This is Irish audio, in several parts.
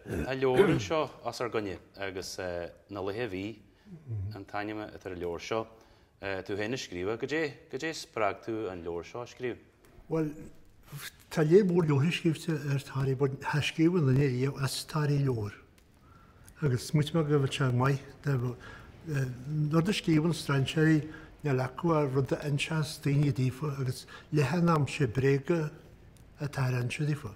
Tá leabhar anseo os ár gcoinne agus Na Laetha a Bhí an t-ainm atá ar an leabhar seo. Tú féin a scríobh é. Goidé a spreag tú an leabhar seo a scríobh? Bhuel, tá léar mór leabharthaí scríofa ar Thoraí but níor scríobh aon duine riamh as Toraí leabhar. Agus smaoitigh mé go bhfuil sé maith nó rud a scríobhann strainséirí, níl acu ach rud a inseas daoine daofa agus leath an am sé bréaga atáthar ag inse daofa.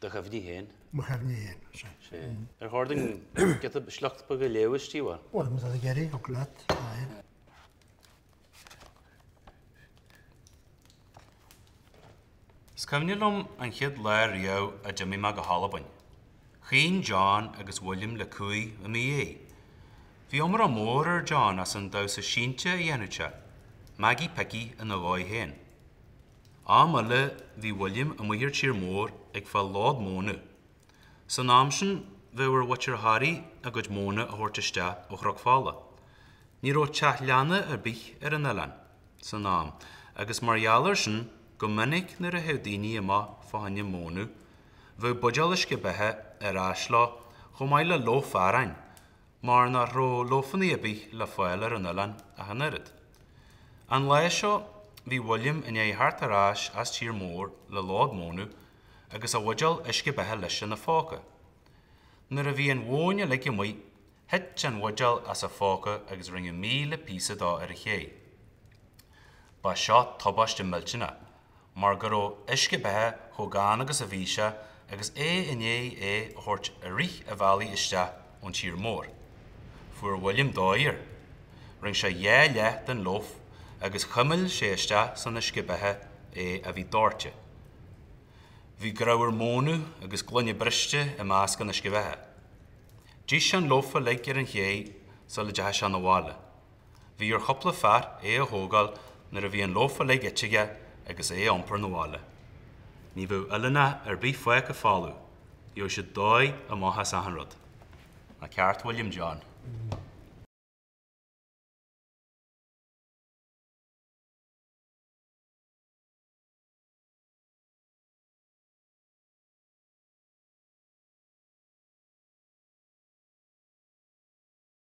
Do chuimhní féin. Mo chuimhní féin, sé. Sé. Ar chóir dúinn giota sliocht beag a léamh istigh uaidh? Bhuel, an rud ag iarraidh, thig leat, aye. Is cuimhne liom an chéad lá riamh a d'imigh mé go hAlbain. Chaoin John agus William le cumhaidh i mo dhiaidh. Bhí iomrá mór ar John as an damhsa iontach a dhéanfadh sé, Maggie Picky ina dhóigh féin. Am eile bhí William amuigh ar tír mór ag fáil lód mónadh. San am sin bheadh ar mhuintir Thoraí a gcuid móna a thabhairt isteach ó Chnoc Fola. Ní raibh teach leanna ar bith ar an oileán san am agus mar gheall ar sin go minic nuair a théadh daoine amach fá choinne mónadh bheadh buidéal uisce beatha ar ais leo chomh maith le lóf aráin mar nach raibh lófannaí ar bith le fáil ar an oileán ach an oiread. An lá seo bhí William i ndiaidh theacht ar ais as tír mór le lód mónadh agus a bhuidéal uisce beatha leis ina phóca. Nuair a bhí an mhóin uilig amuigh, thit a bhuidéal as a phóca agus rinneadh míle píosa dó ar an chéidh. Ba seo tubaiste millteanach. mar go raibh uisce beatha chomh gann agus a bhí sé agus é i ndiaidh é a thabhairt i rith an bhealaigh isteach ón tír mór. Fuair William dóigh air. Rinne sé dhá leath den loaf agus chuimil sé isteach san uisce beatha é a bhí doirte. Bhí grabhar mónadh agus gloine briste i measc an uisce bheatha. D'ith sé an loaf uilig ar an chéidh sula dteachaigh sé 'na bhaile. Bhí ar chúpla fear é a thógáil nuair a bhí an loaf uilig ite aige agus é a iompar 'na bhaile. Ní bheadh oileánach ar bith fágtha folamh, gheobhadh siad dóigh amach as achan rud. Ná ceart William John.